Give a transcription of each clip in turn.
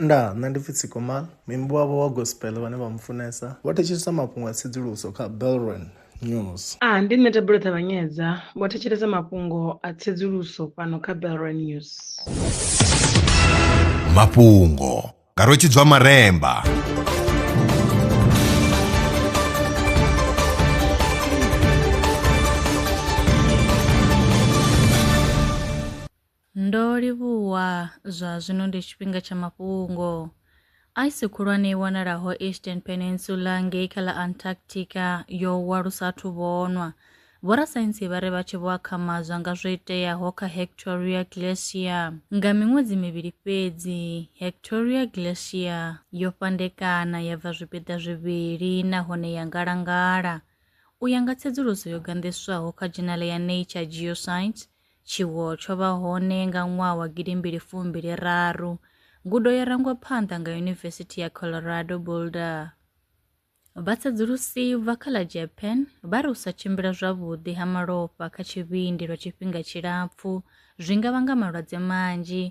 Ndaa, nṋe ndi pfi Tsikomal, muimbi wavho wa gospel vhane vha mu funesa vho thetshelesa mafhungo a tsedzuluso kha Belron News. A, ndi nṋe Thabelo Ṱavhanyedza, vho thetshelesa mafhungo a tsedzuluso fhano kha Belron News. Mafhungo nga Rwetshidzwa Maremba. Ndo livhuwa, zwa zwino ndi tshifhinga tsha mafhungo. Aisi khulwane i wanalaho Eastern Peninsula ngei kha ḽa Antarctica yo wa lu sa athu vhonwa. Vhorasaintsi vha ri vha tshi vho akhamadzwa nga zwo iteaho kha Hectoria Glacier. Nga miṅwedzi mivhili fhedzi, Hectoria Glacier yo fhandekana ya bva zwipiḓa zwivhili nahone ya ngalangala. U ya nga tsedzuluso yo ganḓiswaho kha dzhenale ya Nature Geoscience, Tshiwo tsho vha hone nga ṅwaha wa gidi mbili fumbili raru. Ngudo yo rangwa phanḓa nga Yunivesithi ya Colorado Boulder. Vhatsedzulusi vha kha ḽa Japan vha ri u sa tshimbila zwavhuḓi ha malofha kha tshivhindi lwa tshifhinga tshilapfu zwi nga vhanga malwadze manzhi.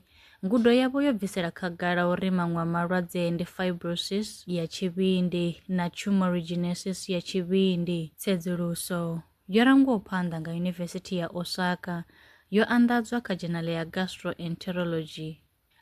Ngudo yavho yo bvisela khagala uri maṅwe a malwadze ndi fibrosis ya tshivhindi na tumorigenesis ya tshivhindi. Tsedzuluso yo rangwaho phanḓa nga Yunivesithi ya Osaka yo anḓadzwa kha dzhenale ya Gastroenterology.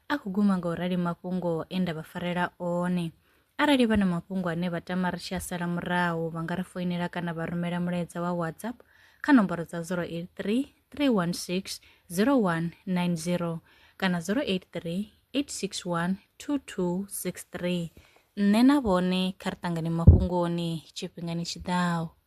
A khou guma nga u rali mafhungo e nda vha farela one. Arali vha na mafhungo ane vha tama ri tshi a sala murahu, vha nga ri foinela kana vha rumela mulaedza wa WhatsApp kha nomboro dza 083 316 0190 kana 083 861 2263. Nṋe na vhone kha ri ṱangane mafhungoni tshifhingani tshi ḓaho.